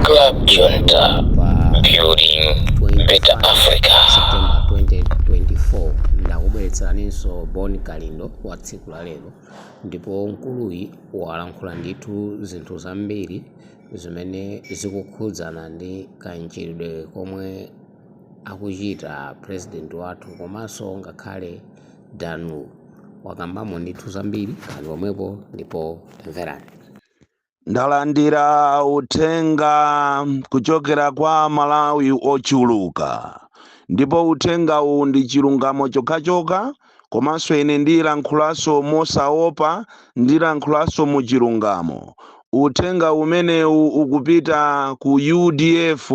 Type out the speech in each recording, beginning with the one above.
Club Junta, building better Africa. September 2024 ndakubweretseraninso Bon Kalindo wa tsiku la lero ndipo mkuluyi walankhula ndithu zinthu zambiri zimene zikukhudzana ndi kachitidwe komwe akuchita president wathu komanso ngakhale Danu wakambamo ndithu zambiri ali pomwepo ndipo tamverani. ndalandira uthenga kuchokera kwa aMalawi ochuluka ndipo uthenga uwu ndi chilungamo chokhachokha komanso ine ndilankhulanso mosaopa ndilankhulanso mu chilungamo uthenga umenewu ukupita ku udf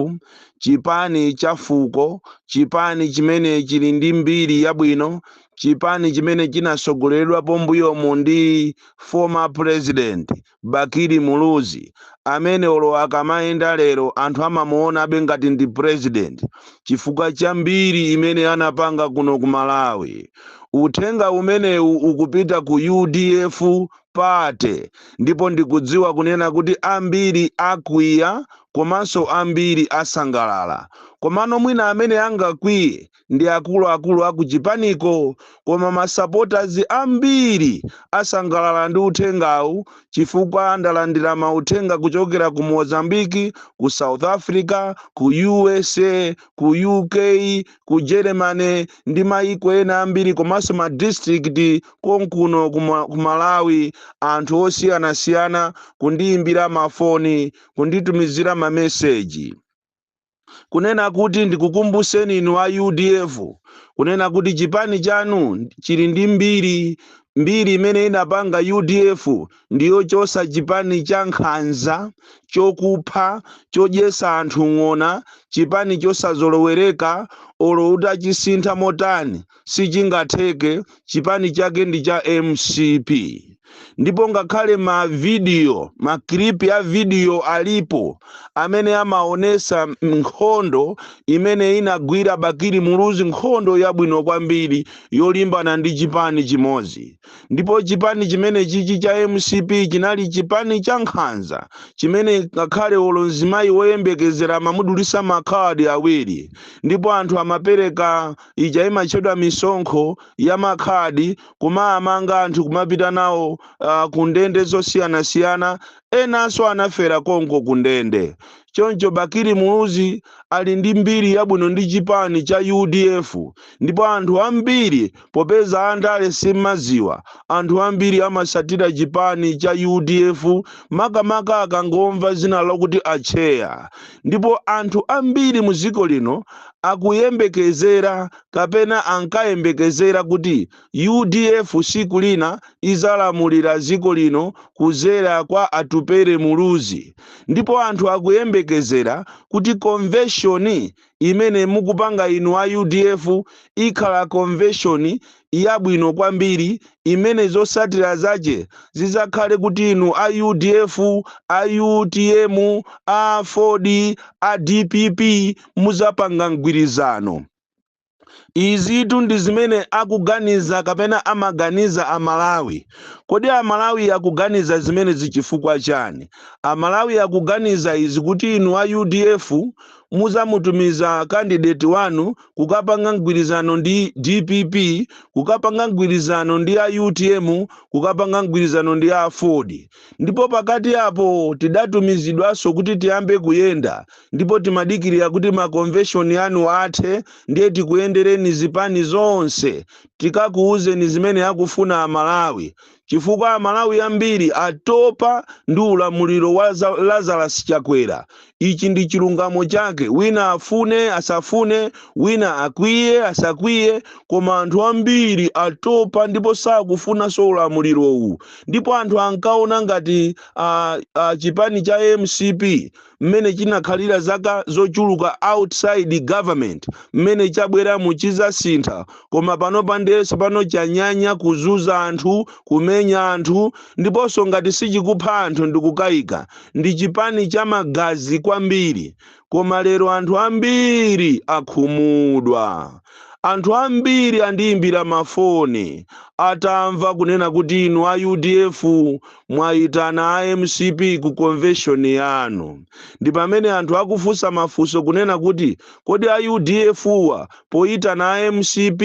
chipani cha fuko chipani chimene chili ndi mbiri yabwino Chipani chimene chinatsogoleredwapo mbuyomu ndi Former President Bakili Muluzi amene olo akamayenda lero anthu amamuonabe ngati ndi President chifukwa cha mbiri imene anapanga kuno ku Malawi. Uthenga umenewu ukupita ku udf Party ndipo ndikudziwa kunena kuti ambiri akwiya komanso ambiri asangalala komano mwina amene angakwiye ndi akuluakulu a kuchipaniko koma masapotazi ambiri asangalala ndi uthengawu chifukwa ndalandira mauthenga kuchokera ku mozambique ku south africa ku usa ku uk ku germany ndi mayiko ena ambiri komanso ma district konkuno ku malawi anthu osiyanasiyana kundiyimbira mafoni kunditumizira mameseji kunena kuti ndikukumbuseni inu a udf kunena kuti chipani chanu chili ndi mbiri mbiri imene inapanga udf ndiyochosa chipani cha nkhanza chokupha chodyesa anthu ng'ona chipani chosazolowereka olo utachisintha motani sichingatheke chipani chake ndi cha mcp ndipo ngakhale mavidiyo makilipi a vidiyo alipo amene amaonesa nkhondo imene inagwira bakili muluzi nkhondo yabwino kwambiri yolimbana ndi chipani chimodzi ndipo chipani chimene chichi cha mcp chinali chipani cha nkhanza chimene ngakhale olo mzimayi woyembekezera amamudulisa makhadi awiri ndipo anthu amapereka ija imatchedwa misonkho ya makhadi kumawamanga anthu kumapita nawo uh, ku ndende zosiyanasiyana enanso anafera konko ku ndende choncho bakili muluzi ali ndi mbiri yabwino ndi chipani cha udf ndipo anthu ambiri popeza andale simumaziwa anthu ambiri amasatira chipani cha udf makamaka akangomva zina lakuti atcheya ndipo anthu ambiri mu dziko lino akuyembekezera kapena ankayembekezera kuti udf siku lina izalamulira dziko lino kuzera kwa atupere muluzi ndipo anthu akuyembekezera kuti konveshoni imene mukupanga inu a udf ikhala konveshoni yabwino kwambiri imene zosatira zace zidzakhale kuti inu a udf, a utm, a aford, a dpp mudzapanga mgwirizano. Izitu ndi zimene akuganiza kapena amaganiza a Malawi. Kodi a Malawi akuganiza zimenezi cifukwa ciani? A Malawi akuganiza izi kuti inu a udf mudzamutumiza candidate wanu kukapanga mgwirizano ndi dpp kukapanga mgwirizano ndi a utm kukapanga mgwirizano ndi a aford ndipo pakati apo tidatumizidwanso kuti tiyambe kuyenda ndipo timadikirira kuti makonveshoni anu athe ndiye tikuyendereni zipani zonse tikakuwuzeni zimene akufuna amalawi chifukwa amalawi ambiri atopa ndi ulamuliro wa lazarus chakwera ichi ndi chilungamo chake wina afune asafune wina akwiye asakwiye koma anthu ambiri atopa ndipo sakufunanso ulamulirowu ndipo anthu ankaona ngati chipani cha mcp mmene chinakhalira zaka zochuluka outside government mmene chabweramu chizasintha koma panopa ndiye tsopano chanyanya kuzuza anthu kumenya anthu ndiponso ngati sichikupha anthu ndikukayika ndi chipani cha magazi kwambiri koma lero anthu ambiri akhumudwa anthu ambiri andiyimbira mafoni atamva kunena kuti inu a udf Mwayitana a mcp ku convention yanu ndi pamene anthu akufunsa mafunso kunena kuti kodi a udf-wa poyitana a mcp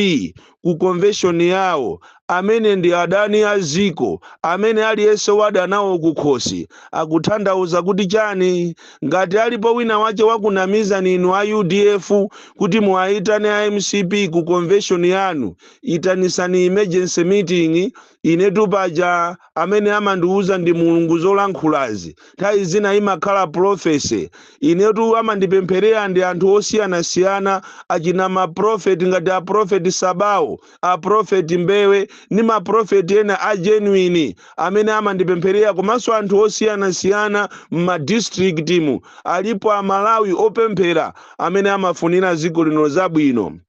ku convention yawo amene ndi adani a dziko amene aliyense wada nawo kukhosi akuthandauza kuti chani? Ngati alipo wina wache wakunamizani inu a udf kuti muwayitane a mcp ku convention yanu itanisani emergency meeting Inetu paja amene amandiuza ndi Mulungu zolankhulazi. Nthawi zina imakhala prophecy. Inetu amandipempherera ndi anthu osiyanasiyana achina ma prophet ngati a prophet Sabawo, a prophet Mbewe ndi ma prophet ena a genuine amene amandipempherera komanso anthu osiyanasiyana m'ma district mu. Alipo a Malawi opemphera amene amafunira dziko lino zabwino.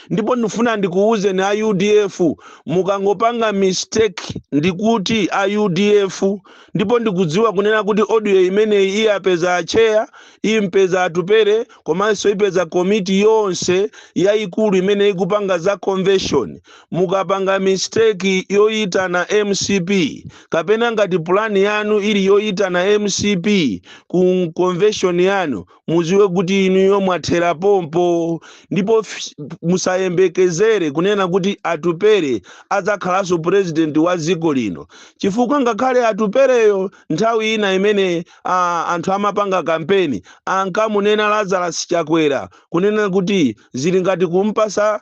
ndipo ndifuna ndikuwuzeni a udf mukangopanga mistake ndikuti a udf ndipo ndikudziwa kunena kuti audio imeneyi iyapeza acheya impeza atupere komanso ipeza komiti yonse yayikulu imene ikupanga za convention mukapanga mistake yoyitana mcp kapena ngati pulani yanu ili yoyitana mcp ku convention yanu muziwe kuti inuyo mwathera pompo ndipo f- musayembekezere kunena kuti atupere adzakhalanso purezidenti wa dziko lino chifukwa ngakhale atupereyo nthawi ina imene ah, anthu amapanga kampeni ankamunena lazarus chakwera kunena kuti Zili ngati kum'patsa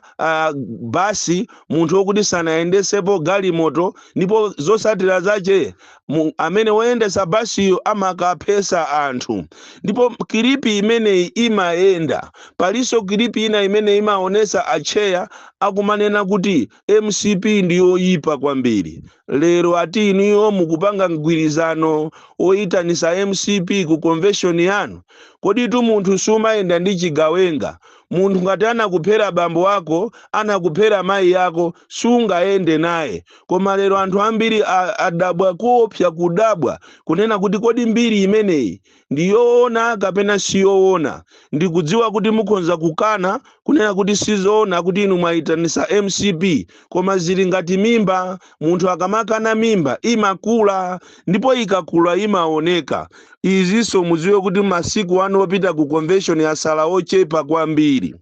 basi munthu wokuti sanayendetsepo galimoto ndipo zotsatira zache amene woyendetsa basiyo amakaphetsa anthu. Ndipo kilipi imeneyi imayenda. Palinso kilipi ina imene imaonetsa atcheya akumanena kuti mcp ndi yoyipa kwambiri lero ati inuyo mukupanga mgwirizano oyitanisa mcp ku convention yanu koditu munthu sumayenda ndi chigawenga munthu ngati anakuphera bambo ako anakuphera mayi yako sungayende naye koma lero anthu ambiri a- adabwa kuopsa kudabwa kunena kuti kodi mbiri imeneyi ndi yoona kapena si yoona. Ndikudziwa kuti mukhonza kukana, kunena kuti si zoona kuti inu mwayitanisa mcp, koma zili ngati mimba, munthu akamakana mimba imakula, ndipo ikakula imaoneka. Izinso mudziwe kuti masiku anu opita ku convention yasala ochepa kwambiri.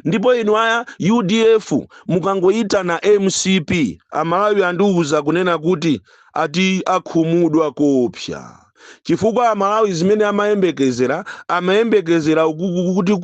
ndipo inu a udf mukangoyitana mcp amalawi andiuza kunena kuti ati akhumudwa koopsa chifukwa amalawi zimene amayembekezera amayembekezera ukuku kuti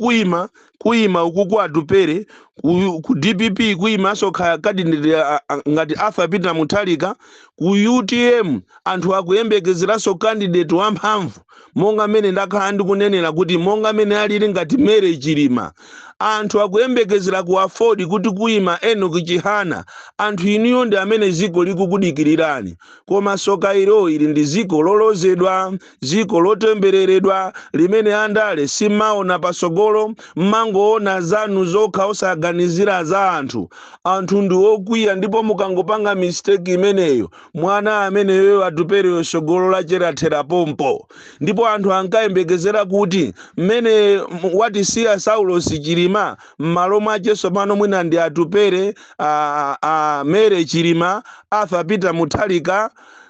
kuima ukuku atupere ku, ku dpp kuimanso kha- kandideti a- a- ngati arthur peter mutharika ku utm anthu akuyembekezeranso kandideti wamphamvu monga mmene ndakhala ndikunenera kuti monga mmene analili ngati Mary Chilima anthu akuyembekezera ku aford kuti kuima Enoch Chihana anthu inuyo ndi amene ziko likukudikirirani koma soka ilo ili ndi ziko lolozedwa ziko lotembereredwa limene andale simumaona pasogolo mmangoona zanu zokha osaganizira za anthu anthu ndi okwiya ndipo mukangopanga mistake imeneyo mwana ameneyo atupereyo tsogolo lace lathera pompo ndipo anthu ankayembekezera kuti mmene m- watisiya saulos chilima m'malo mwace tsopano mwina ndi atupere a, a mary chilima arthur peter mutharika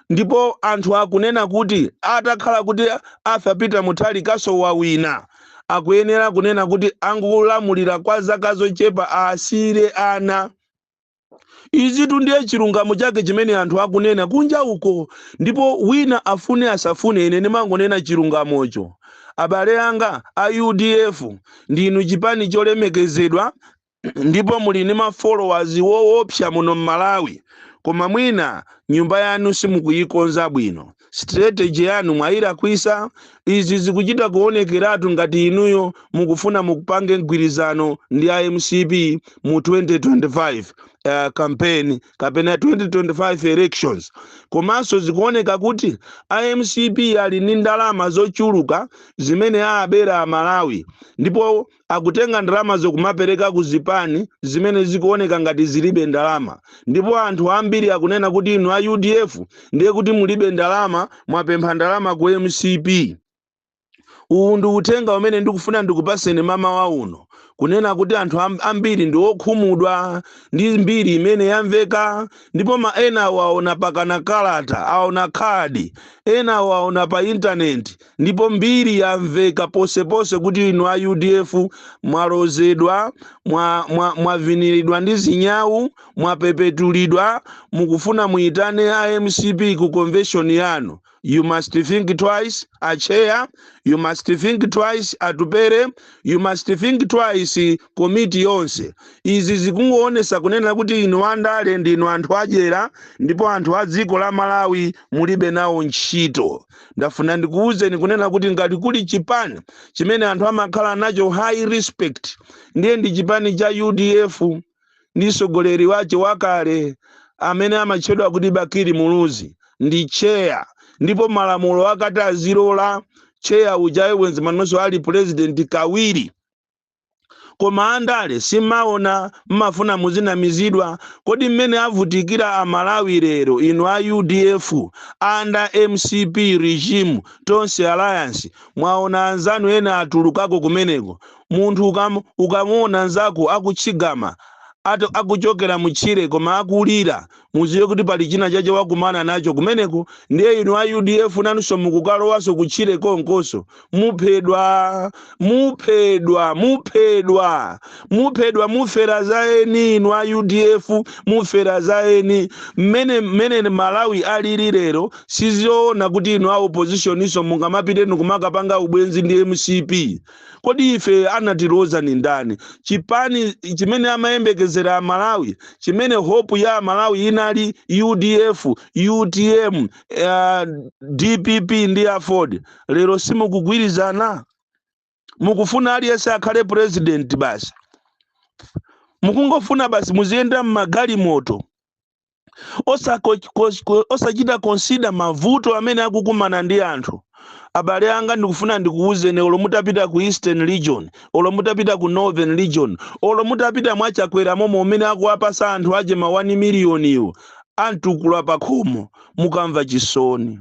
ndipo anthu akunena kuti atakhala kuti arthur peter mutharikanso wawina akuyenera kunena kuti angolamulira kwa zaka zochepa asiyire ana izitu ndiye chilungamo chake chimene anthu akunena kunja uko ndipo wina afune asafune ine ndimangonena chilungamocho abale anga a udf ndinu chipani cholemekezedwa ndipo muli ndi mafollowers woopsa muno m'malawi koma mwina nyumba yanu simukuyikonza bwino Strategy yanu mwayilakwisa, izi zikuchita kuonekeratu ngati inuyo mukufuna mupange mgwirizano ndi a mcp mu 2025 uh, campaign kapena 2025 elections. Komanso zikuoneka kuti a mcp ali ndi ndalama zochuluka zimene aabera amalawi ndipo akutenga ndalamazo kumapereka ku zipani zimene zikuoneka ngati zilibe ndalama ndipo anthu ambiri akunena kuti inu a udf ndiye kuti mulibe ndalama mwapempha ndalama ku mcp uwu ndi uthenga umene ndikufuna ndikupaseni mmawa uno kunena kuti anthu amb- ambiri ndi okhumudwa ndi mbiri imene yamveka ndipo ma ena awo aona pakana kalata aona khadi ena awo aona pa intaneti ndipo mbiri yamveka ponseponse kuti inu a udf mwalozedwa mwa- mwa- mwaviniridwa ndi zinyawu mwapepetulidwa mukufuna muyitane a mcp ku convention yanu you must think twice acheya you must think twice atupere you must think twice komiti yonse izi zikungoonesa kunena kuti inu andale ndinu anthu adyera ndipo anthu a dziko la malawi mulibe nawo ntchito ndafuna ndikuwuzeni kunena kuti ngati kuli chipani chimene anthu amakhala nacho high respect ndiye ndi chipani cha udf ndi mtsogoleri wace wakale amene amatchedwa kuti bakili muluzi ndi cheya ndipo malamulo akanati azilola cheya uja bwenzi manonso ali pulezidenti kawiri koma andale simaona mmafuna muzinamizidwa kodi mmene avutikira amalawi lero inu a udf under mcp regime tonse alliance mwaona anzanu ena atulukako kumeneko munthu ukam, ukamuona nzako akutchigama akuchokera mutchire koma akulira muziwe kuti pali china chache wakumana nacho kumeneko ndiye inu a udf nanunso mukukalowanso kutchire konkonso muphedwa muphedwa muphedwa muphedwa mufera za eni inu a udf mufera za eni mmene mmene malawi alili lero sizoona kuti inu a oppositioninso mungamapite nikumakapanga ubwenzi ndi mcp kodi ife anatiloza ni ndani chipani chimene amayembekezera amalawi chimene hope ya amalawi inali udf utm uh, dpp ndi aford lero simukugwirizana mukufuna aliyense akhale president basi mukungofuna basi muziyenda mmagalimoto osako- kos- ko- osachita konsida mavuto amene akukumana ndi anthu abale anga ndikufuna ndikuwuzeni olo mutapita ku eastern region olo mutapita ku northern region olo mutapita mwachakwera momo umene akuwapasa anthu ache ma 1 miliyoniwo a mtukula pakhomo mukamva chisoni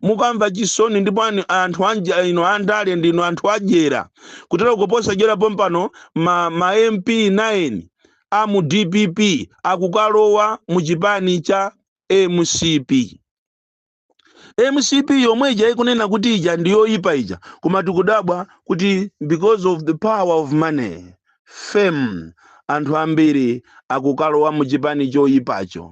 mukamva chisoni ndipo ani- anthu anja- inu andale ndinu anthu adyera kutero kuposa dyera pompano ma, ma mp 9 a mu dpp akukalowa mu chipani cha mcp mcp yomwe ija ikunena kuti ija ndiyoyipa ija koma tikudabwa kuti because of the power of money Fame anthu ambiri akukalowa mu chipani choyipacho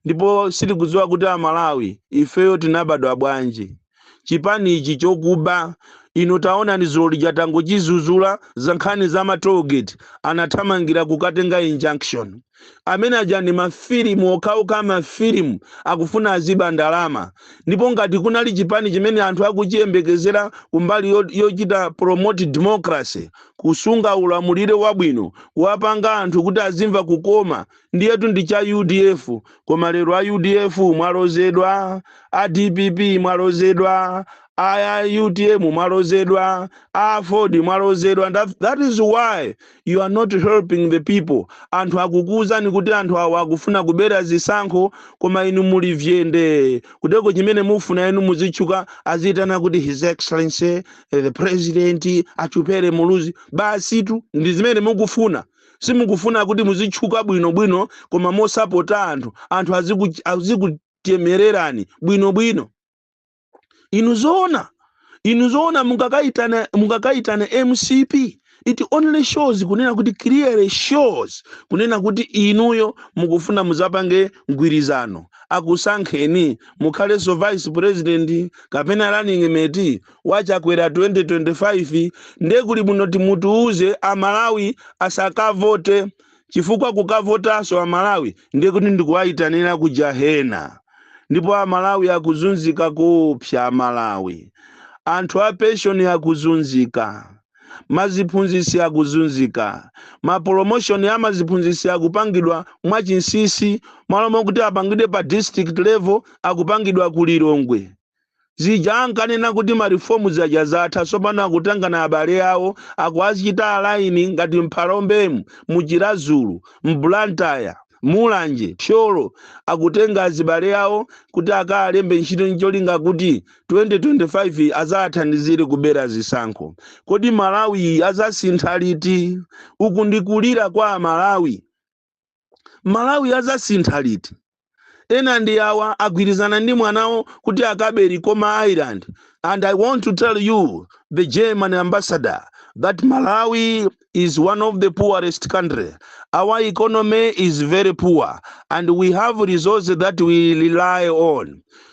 ndipo sitikudziwa kuti a Malawi ifeyo tinabadwa bwanji. Chipani ichi chokuba inu taonani dzulo lija tangochizuzula za nkhani za ma toll gate anathamangira kukatenga injunction. amene aja ndi mafilimu okhaokha mafilimu akufuna aziba ndalama ndipo ngati kunali chipani chimene anthu akuchiyembekezera kumbali yo- yochita promote democracy kusunga ulamuliro wabwino kuwapanga anthu kuti azimva kukoma ndiyetu ndi cha udf koma lero a udf mwalozedwa a dpp mwalozedwa a utm mwalozedwa a aford mwalozedwa That- that is why you are not helping the people anthu akukuwuzani kuti anthu awa akufuna kubera zisankho koma inu muli vyende kuteko chimene mufuna inu muzitchuka aziyitana kuti his excellency eh, the president atupere muluzi basitu ndi zimene mukufuna simukufuna kuti muzitchuka bwinobwino koma mosapota anthu anthu aziku- azikuchemererani bwinobwino inu zoona inu zoona mungakaitane mungakaitane mcp it only shows kunena kuti clearly shows kunena kuti inuyo mukufuna muzapange mgwirizano akusankheni mukhalenso vice president kapena running mate wachakwera 2025 nde kuli bwino muti mutiuze amalawi asakavote chifukwa kukavotanso amalawi ndiye kuti ndikuwayitanira ku jahena ndipo amalawi akuzunzika koopsa amalawi anthu a penshoni akuzunzika maziphunzitsi akuzunzika mapolomoshoni a maziphunzitsi akupangidwa mwachinsisi malo mokuti apangidwe pa district level akupangidwa ku lilongwe Zija ankanena kuti ma reforms aja zatha tsopano akutengana abale awo akuwachita align ngati m'Phalombemu, mu Chiradzulu, m'Blantyre, Mulanje, Thyolo akutenga azibale awo kuti akaalembe ntchito ncholinga kuti 2025 azaathandizire kubera zisankho. Kodi Malawi azasintha liti? Uku ndi kulira kwa a Malawi. malawi azasintha liti ena ndi awa agwirizana ndi mwanawo kuti akabe likoma island and i want to tell you the german ambassador that malawi is one of the poorest country our economy is very poor and we have resources that we rely on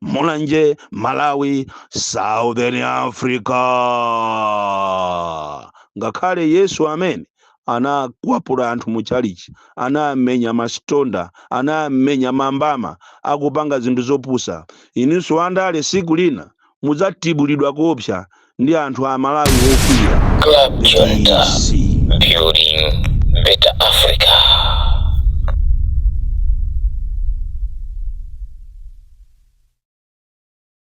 mulanje malawi southern africa ngakhale yesu amene anakwapula anthu mu chalichi anamenya masitonda anamenya mambama akupanga zinthu zopusa inunso andale siku lina mudzatibulidwa koopsa ndi anthu amalawi ofiira Club Junta, DC. building better Africa.